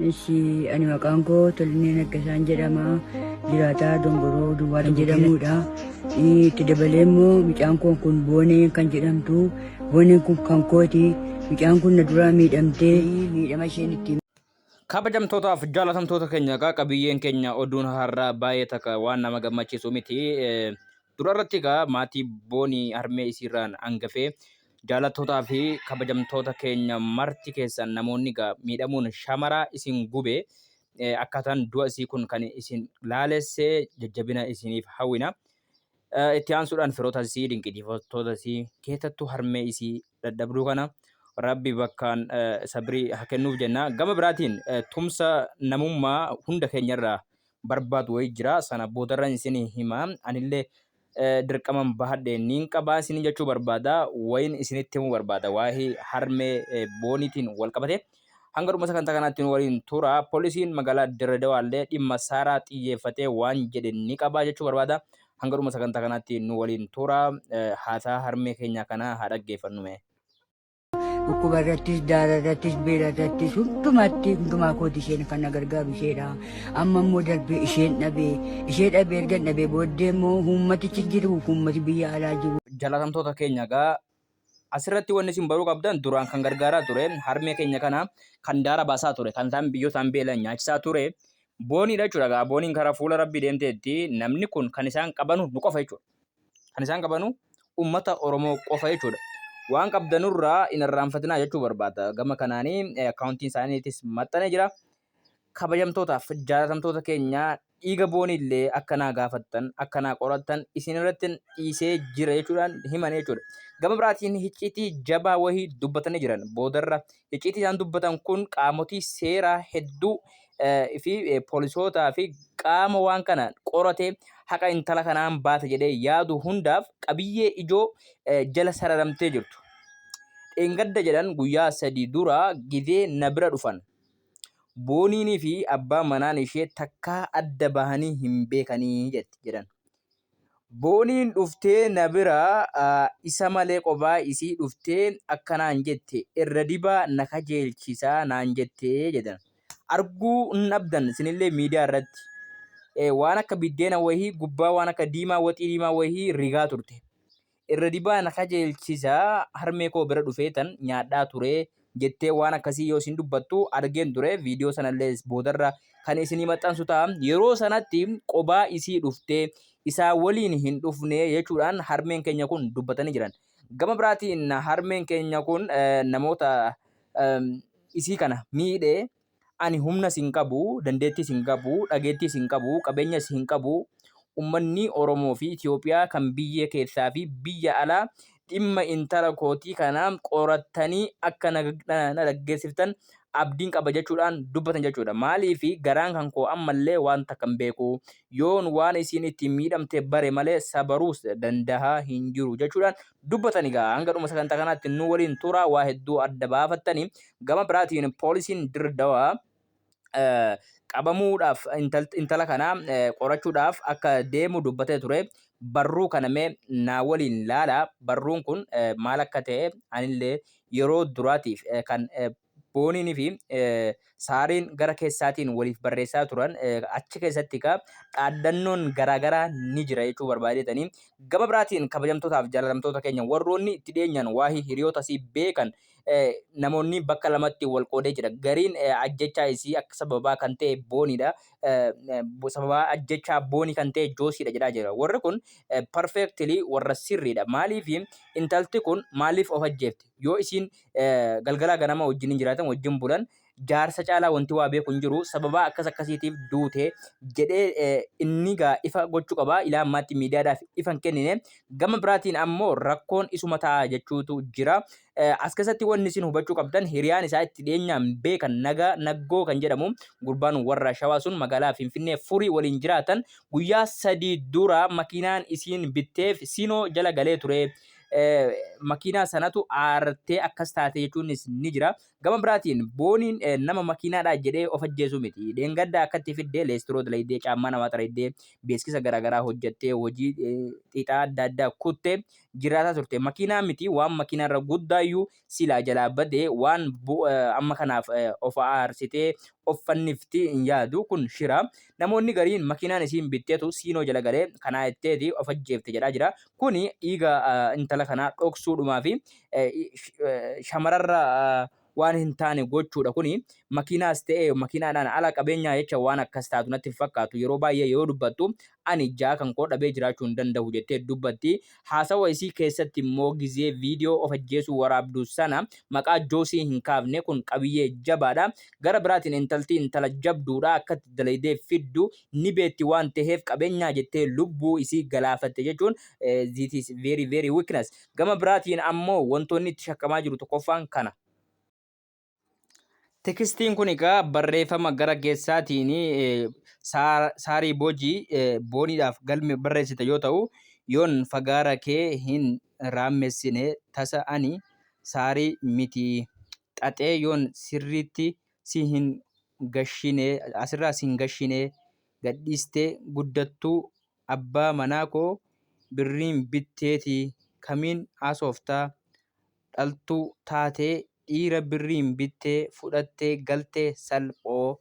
Ishi ani maqaan koo Tollinee Naggasaan jedhama. Jiraataa Dongoroo Duwwaa kan jedhamudha. Itti dabalee immoo mucaan koo kun Boonee kan jedhamtu. Booneen kun kan kooti. Mucaan kun na duraa miidhamtee miidhama isheen ittiin Kabajamtootaaf jaalatamtoota keenya egaa qabiyyeen keenya oduun har'aa baay'ee takka waan nama gammachiisu miti. Eh, Dura irratti egaa maatii booni harmee isiirraan hangafee jaalattootaa fi kabajamtoota keenya marti keessan namoonni egaa miidhamuun shamaraa isin gube akkaataan du'a isii kun kan isin laalesse jajjabina isiniif hawwina. Itti aansuudhaan firoota isii dinqisiifattoota isii keessattuu harmee isii dadhabduu kana rabbi bakkaan sabrii haa kennuuf jenna. Gama biraatiin tumsa namummaa hunda keenyarraa barbaadu wayii jira sana boodarran isin hima anillee dirqaman bahadhe niin qabaa isin jechuu barbaada wayin isinitti himuu barbaada waa'ee harmee booniitiin wal qabate hanga dhuma sagantaa kanaatti nu waliin tura poolisiin magaalaa Dirree Dawaallee dhimma saaraa xiyyeeffatee waan jedhe ni qabaa jechuu barbaada hanga dhuma sagantaa kanaatti nu waliin tura haasaa harmee keenya kana haa dhaggeeffannume. Dhukkuba irrattis, daara irrattis, beela irrattis hundumatti hundumaa kooti isheen kan na gargaaru isheedha. Amma immoo darbee isheen dhabee ishee dhabee erga dhabee booddee immoo uummatichi jiru uummati biyya alaa jiru. Jalatamtoota keenya gaa asirratti wanni isin baruu qabdan duraan kan gargaaraa ture harmee keenya kana kan daara baasaa ture kan isaan biyyoo isaan beelan nyaachisaa ture booniidha jechuudha gaa booniin karaa fuula rabbii deemteetti namni kun kan isaan qabanu nu qofa jechuudha. Kan isaan qabanu ummata Oromoo qofa jechuudha. Waan qabdanurraa hin irraanfatinaa jechuu barbaada. Gama kanaanii akkaawuntiin isaaniitis maxxanee jira. Kabajamtootaaf jaalatamtoota keenya dhiiga booniillee akka naa gaafattan akka naa qorattan isin irratti dhiisee jira jechuudhaan himan jechuudha. Gama biraatiin hicciitii jabaa wahii dubbatanii jiran boodarra icciitii isaan dubbatan kun qaamotii seeraa hedduu fi poolisootaa fi qaama waan kana qorate haqa intala kanaan baata jedhee yaadu hundaaf qabiyyee ijoo jala sararamtee jirtu. Dheengadda jedhan guyyaa sadii dura gizee na bira dhufan. Booniinii fi abbaan manaan ishee takkaa adda bahanii hin beekanii jedhan. Booniin dhuftee na bira isa malee qobaa isii dhuftee akkanaan jette irra dibaa na kajeelchisaa naan jettee jedhan. Arguu hin dhabdan sinillee miidiyaa irratti waan akka biddeena wahii gubbaa waan akka diimaa waxii diimaa wahii rigaa turte. Irra dibaa na kajeelchisa harmee koo bira dhufeetan nyaadhaa ture jettee waan akkasii yoo isin dubbattu argeen ture viidiyoo sanallee boodarra kan isinii maxxansu ta'a yeroo sanatti qobaa isii dhuftee isaa waliin hin dhufne jechuudhaan harmeen keenya kun dubbatanii jiran gama biraatiin harmeen keenya kun namoota isii kana miidhee Ani humnas hin qabu, dandeettiis hin qabu, dhageettiis hin qabu, qabeenyas hin qabu. Ummanni Oromoo fi Itoophiyaa kan biyya keessaa fi biyya alaa dhimma intala kootii kana qorattanii akka na dhaggeessiftan abdiin qaba jechuudhaan dubbatan jechuudha. Maaliif garaan kan koo ammallee waan takka hin beeku. Yoon waan isiin ittiin miidhamte bare malee sabaruus dandahaa hin jiru jechuudhaan dubbatan egaa hanga dhuma sagantaa kanaatti nu waliin turaa waa hedduu adda baafattanii gama biraatiin poolisiin Dirree Dawaa qabamuudhaaf intala kana qorachuudhaaf akka deemu dubbatee ture barruu kana mee naa waliin laala barruun kun maal akka ta'e anillee yeroo duraatiif kan Booniin fi Saariin gara keessaatiin waliif barreessaa turan achi keessatti ka dhaaddannoon garaagaraa ni jira jechuu barbaadetanii gama biraatiin kabajamtootaaf jaalatamtoota keenya warroonni itti dhiyeenyaan waa'ee hiriyoota isii beekan namoonni bakka lamatti wal qoodee jira. Gariin ajjechaa isii akka sababaa kan ta'e booniidha. Sababaa ajjechaa boonii kan ta'e joosiidha jedhaa jira. Warri kun perfectly warra sirriidha. Maaliif intalti kun maaliif of ajjeefte? Yoo isiin galgalaa ganama wajjin jiraatan wajjin bulan jaarsa caalaa wanti waa beeku hin jiru sababaa akkas akkasiitiif duute jedhee inni gaa ifa gochuu qaba ilaa ammaatti miidiyaadhaaf ifa hin kennine gama biraatiin ammoo rakkoon isuma ta'a jechuutu jira as keessatti wanni isin hubachuu qabdan hiriyaan isaa itti dhiyeenyaan beekan nagaa naggoo kan jedhamu gurbaan warra shawaa sun magaalaa finfinnee furii waliin jiraatan guyyaa sadii dura makiinaan isiin bitteef siinoo jala galee ture makiinaa sanatu aartee akkas taate jechuunis ni jira. Gama biraatiin booniin nama makiinaadhaa jedhee of ajjeesuu miti. Dheengaddaa akkatti fiddee leestiroo dalaydee caammaa namaa xaraydee beeksisa garaagaraa hojjettee hojii xiixaa adda addaa kuttee jiraataa turte. Makiinaa miti waan makiinaarra guddaayyuu Silaa jalaa bade waan amma kanaaf of aarsitee of fannifti hin yaadu kun shira. Namoonni gariin makiinaan isiin bittetu siinoo jala galee kanaa itteeti of ajjeefte jedhaa jira. Kuni dhiiga intala kanaa dhoksuudhumaa fi shamararra waan hin taane gochuudha kuni makiinaas ta'e makiinaadhaan ala qabeenyaa jecha waan akkas taatu natti hin fakkaatu yeroo baay'ee yoo dubbattu Ani ijjaa kan koo dhabee jiraachuu hin dandahu jettee dubbatti. Haasawa isii keessatti immoo gizee viidiyoo of ajjeesuu waraabdu sana maqaa Joosii hin kaafne. Kun qabiyyee jabaadha. Gara biraatiin intalti intala jabduudha. Akkatti dalaydee fiddu ni beetti waan taheef qabeenyaa jettee lubbuu isii galaafatte jechuun this is very very weakness. Gama biraatiin ammoo wantoonni itti shakkamaa jiru tokkoffaan kana. Tekistiin kun egaa barreeffama gara keessaatiin saarii boojii booniidhaaf galme barreessite yoo ta'u yoon fagaara kee hin raammessine tasa ani saarii miti xaxee yoon sirriitti si hin gashine asirraa si hin gashine gadhiistee guddattuu abbaa manaa koo birriin bitteeti kamiin haasoftaa dhaltuu taatee dhiira birriin bittee fudhattee galte salphoo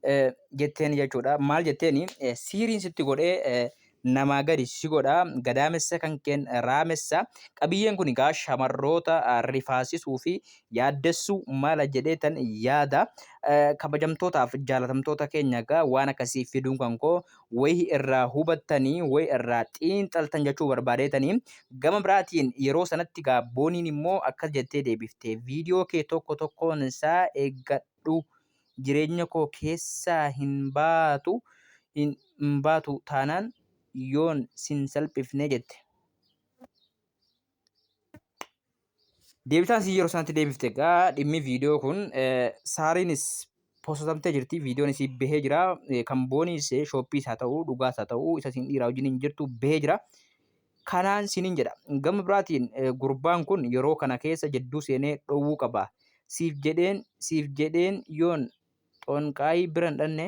eh, jetteen jechuudha. Maal jetteen eh, siiriin sitti godhee eh, namaa gadi si godha gadaamessa kan keen raamessa qabiyyeen kun egaa shamarroota ah, rifaasisuu fi yaaddessuu mala jedhee tan yaada Eh, kabajamtootaaf jaalatamtoota keenya egaa waan akkasii fiduun kan koo wayi irraa hubattani, wayi irraa xiinxaltan jechuu barbaadeetani. Gama biraatiin yeroo sanatti gaa Booniin immoo akkas jettee deebifte, viidiyoo kee tokko tokkoon isaa eeggadhu, jireenya koo keessaa hin baatu, hin baatu taanaan yoon sin salphifne jette. Deebitaan si yeroo sanatti deebifte egaa dhimmi viidiyoo kun eh, saariinis posotamtee jirti viidiyoon isii bahee jira Eh, kan booniis eh, shooppiis haa ta'u dhugaas haa ta'u isa siin dhiiraa wajjin hin jirtu bahee jira kanaan sinin jedha gama biraatiin eh, gurbaan kun yeroo kana keessa jidduu seenee dhowwuu qaba siif jedheen siif jedheen yoon xonqaayii bira hin dhanne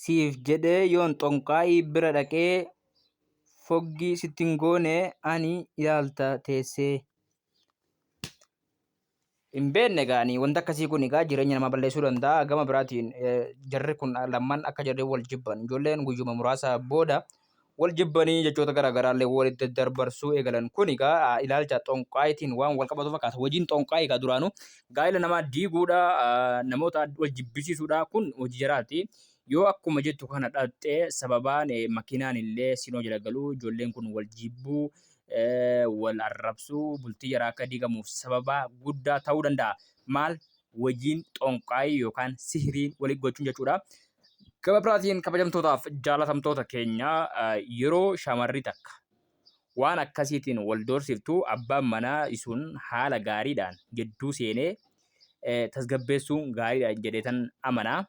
siif jedhee yoon xonqaayii bira dhaqee foggii sitti hin goone ani ilaalta teessee. Hin beekne gaanii wanti akkasii kun egaa jireenya namaa balleessuu danda'a. Gama biraatiin jarri kun lamman akka jarri wal jibban ijoolleen guyyuma muraasa booda wal jibbanii jechoota garaa garaallee walitti darbarsuu eegalan kun egaa ilaalcha xonqaayitiin waan wal qabatu fakkaata. Hojiin xonqaayii egaa duraanuu gaa'ila namaa diiguudha, namoota wal jibbisiisuudha kun hojii jaraati. Yoo akkuma jettu kana dhaqxe sababaan makiinaan illee sinoo jala galuu ijoolleen kun wal jibbuu wal arrabsuu bultii jaraa akka diigamuuf sababaa guddaa ta'uu danda'a. Maal wajiin xonqaayii yookaan sihiriin walitti gochuun jechuudha. Gama biraatiin kabajamtootaaf jaalatamtoota keenya yeroo shamarri takka waan akkasiitiin wal doorsiftu abbaan manaa isuun haala gaariidhaan gidduu seenee tasgabbeessuun gaariidha jedheetan amanaa.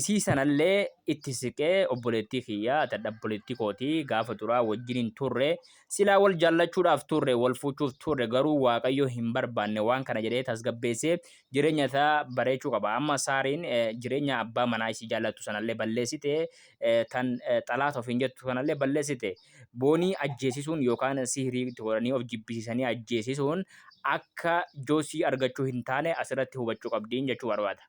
Isii sanallee itti siqee obboleettii kiyya tadha obboleettii kooti gaafa duraa wajjin hin turre silaa wal jaallachuudhaaf turre wal fuuchuuf turre garuu waaqayyo hin barbaanne waan kana jedhee tasgabbeessee jireenya isaa bareechuu qaba amma saariin eh, jireenya abbaa manaa isii jaallattu sanallee balleessite eh, tan eh, xalaata ofiin jettu sanallee balleessite Boonii ajjeesisuun yookaan sihrii itti godhanii of jibbisiisanii ajjeesisuun akka Joosii argachuu hin taane asirratti hubachuu qabdiin jechuu barbaada.